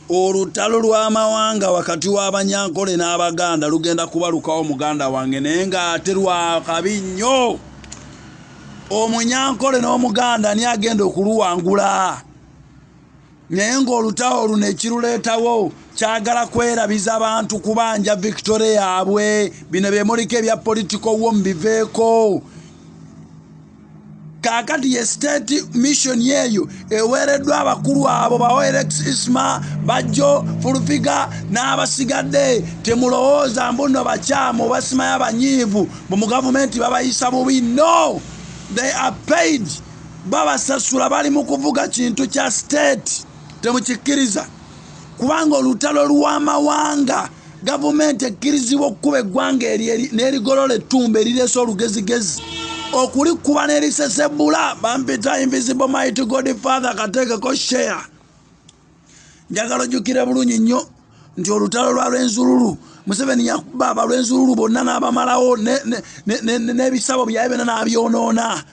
Olutalo lw'amawanga wakati w'Abanyankole n'Abaganda lugenda kubalukawo muganda wange naye ng'ate lwakabi nnyo. Omunyankole n'Omuganda ani agenda okuluwangula? Naye ng'olutalo luno ekiruleetawo kyagala kwerabiza bantu kubanja victoria yaabwe. Bino bye muliko ebya political wo mubiveeko. kaakati ye state mission yeeyo eweereddwa abakulu abo baoerex isma bajjo fulufiga n'abasigadde temulowooza mbuno bakyamu obasimaya banyiivu mbu mu gavumenti babayisa bubi no they are paid babasasula bali mu kuvuga kintu kya state temukikkiriza kubanga olutalo lw'amawanga Gavumenti ekkirizibwa okukuba eggwanga eryo n'erigolola ettumba erireese olugezigezi okulikuba n'erisesebula bampita invisible mighty god father kateekeko share njagala ojjukire bulungi nnyo nti olutalo lwa lwenzululu museveni yakuba abalwenzululu bonna n'abamalawo n'ebisabo byaye byonna n'abyonoona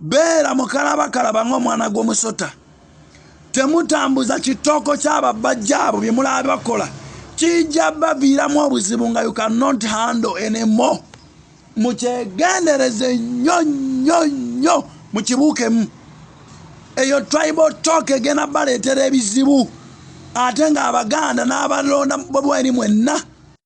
beera mukalabakalaba ng'omwana gw'omusota temutambuza kitooko ky'ababajja abo bye mulaba bakola kijja baviiramu obuzibu nga you cannot handle enemo mukyegendereze nnyo nnyo nnyo mukibuukemu eyo tribal talk egenda baleetera ebizibu ate ng'abaganda n'abalonda bobweri mwenna